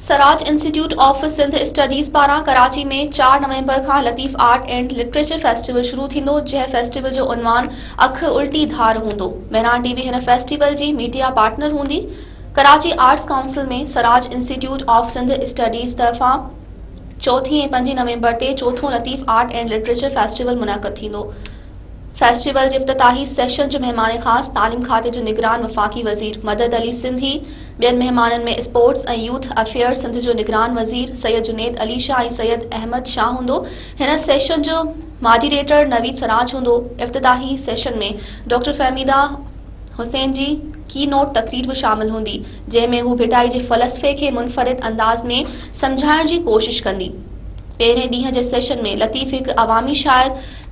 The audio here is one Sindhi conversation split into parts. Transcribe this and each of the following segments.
Siraj institute of Sindh studies پاران ڪراچي ۾ چار نومبر کان Latif art and literature festival شروع ٿيندو جنهن فيسٽيول جو عنوان اک الٽي ڌار هوندو مهراڻ ٽي وي هن فيسٽيول جي ميڊيا پارٽنر هوندي Karachi arts council ۾ Siraj institute of Sindh studies طرفان چوٿين ۽ پنجين نومبر تي چوٿون Latif art and literature festival منعقد ٿيندو فيسٽيول جي افتتاحي سيشن جو مهمان خاص تعليم کاتي جو نگران وفاقي وزير مدد علي سنڌي، ٻين مهمانن ۾ اسپورٽس ۽ يوٿ افيئرز سنڌ جو نگران وزير سيد جنيد علي شاهه ۽ سيد احمد شاهه هوندو. هن سيشن جو ماڊيريٽر نويد سراج هوندو. افتتاحي سيشن ۾ ڊاڪٽر فهميده حسين جي ڪي نوٽ تقرير به شامل هوندي، جنهن ۾ هو ڀٽائي جي فلسفي کي منفرد انداز ۾ سمجهائڻ جي ڪوشش ڪندي. پهرين ڏينهن جي سيشن ۾ لطيف هڪ عوامي شاعر،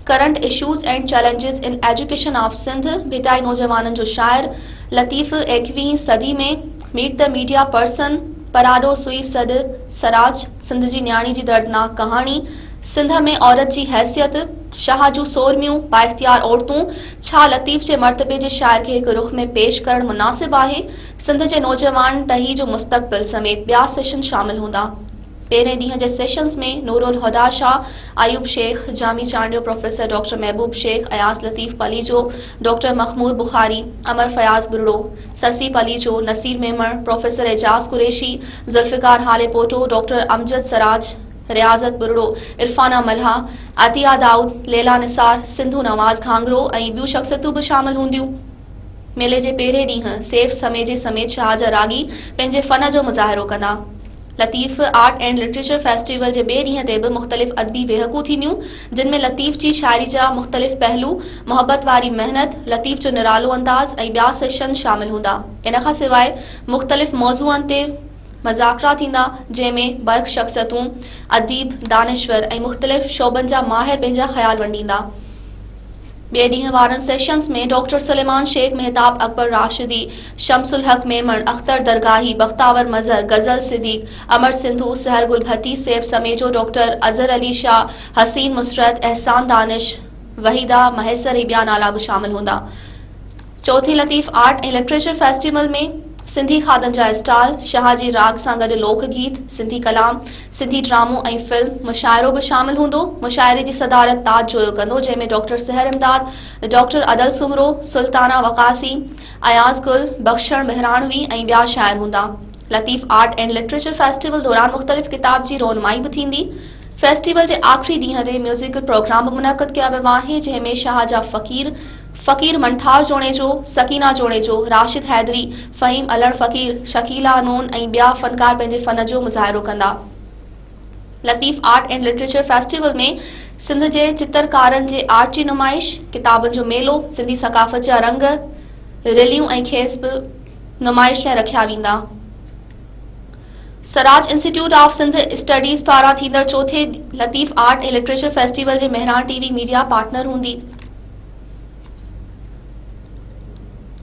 current issues and challenges in education of Sindh, Bhittai نوجوانن جو شاعر، لطيف ايڪويهين صدي ۾ ميٽ دي ميڊيا پرسن، پراڏو سوئي سڏ، سراج، سنڌ جي نياڻي جي دردناڪ ڪهاڻي، سنڌ ۾ عورت جي حيثيت، شاهه جون سورميون، بااختيار عورتون، ڇا لطيف جي مرتبي جي شاعر کي هڪ رخ ۾ پيش ڪرڻ مناسب آهي؟ سنڌ جي نوجوان ٽهي جو مستقبل سميت ٻيا سيشن شامل هوندا. پهرين ڏينهن جي sessions ۾ Nurulhuda Shah, Ayub Shaikh, Jami Chandio, professor doctor Mehboob Shaikh, Ayaz Latif Palijo, doctor Makhmoor Bukhari, Amar Fayaz Buriro, Sassui Palijo, Naseer Memon, professor Ejaz Qureshi, Zulfiqar Halepoto, doctor Amjad Siraj, Riazat Buriro, Irfana ملهه، عطيه دائود، ليلا نثار، سنڌو نواز گهانگهرو ۽ ٻيون شخصيتون به شامل هونديون. ميلي جي پهرين ڏينهن سيف سميجي سميت شاهه جا راڳي پنهنجي فن جو مظاهرو ڪندا. Latif art and literature festival جي ٻئي ڏينهن تي به مختلف ادبي ويهڪون ٿينديون، جن ۾ لطيف جي شاعري جا مختلف پهلو، محبت واري محنت، لطيف جو نرالو انداز ۽ ٻيا سيشن شامل هوندا. ان کان سواء مختلف موضوعن تي مذاڪرا ٿيندا، جنهن ۾ برک شخصيتون، اديب، دانشور ۽ مختلف شعبن جا ماهر پنهنجا خيال ونڊيندا. ٻئي ڏينهن وارن sessions ۾ doctor Suleman Shaikh, Mahtab Akbar Rashdi, Shams Ulhaq Memon, Akhtar Dargahi, Bakhtawar Mazhar, Ghazal Siddique, Amar Sindhu, Sahar Gul Bhatti, Saif Samejo, doctor Azhar Ali Shah, Hussain Musarrat, Ahsan Danish, Waheeda Mahesar ۽ ٻيا نالا به شامل هوندا. چوٿين Latif art ۽ literature festival ۾ Sindhi کاڌن جا اسٽال، شاهه جي راڳ سان گڏ لوڪ گيت، سنڌي ڪلام، سنڌي ڊرامو ۽ فلم مشاعرو به شامل هوندو. مشاعري جي صدارت تاج جويو ڪندو جنهن ۾ ڊاڪٽر سحر امداد، ڊاڪٽر ادل سومرو، سلطانه وقاصي، اياز گل، بخشڻ مهراڻوي ۽ ٻيا شاعر هوندا. Latif art and literature festival دوران مختلف ڪتاب جي رونمائي به ٿيندي. فيسٽيول جي آخري ڏينهن تي ميوزيڪل پروگرام به منعقد ڪيا ويو آهي جنهن ۾ شاهه جا فقير فقير منٺار جوڻيجو، سڪينه جوڻيجو، راشد حيدري، فهيم الهڙ فقير، شڪيلا نون ۽ ٻيا فنڪار پنهنجي فن جو مظاهرو ڪندا. Latif art and literature festival ۾ Sindh جي چترڪارن جي آرٽ جي نمائش، ڪتابن جو ميلو، سنڌي ثقافت جا رنگ، رليون ۽ کيس به نمائش لاء رکيا ويندا. Siraj institute of Sindh studies پاران ٿيندڙ چوٿين Latif art and literature festival جي Mehran T V media partner هوندي.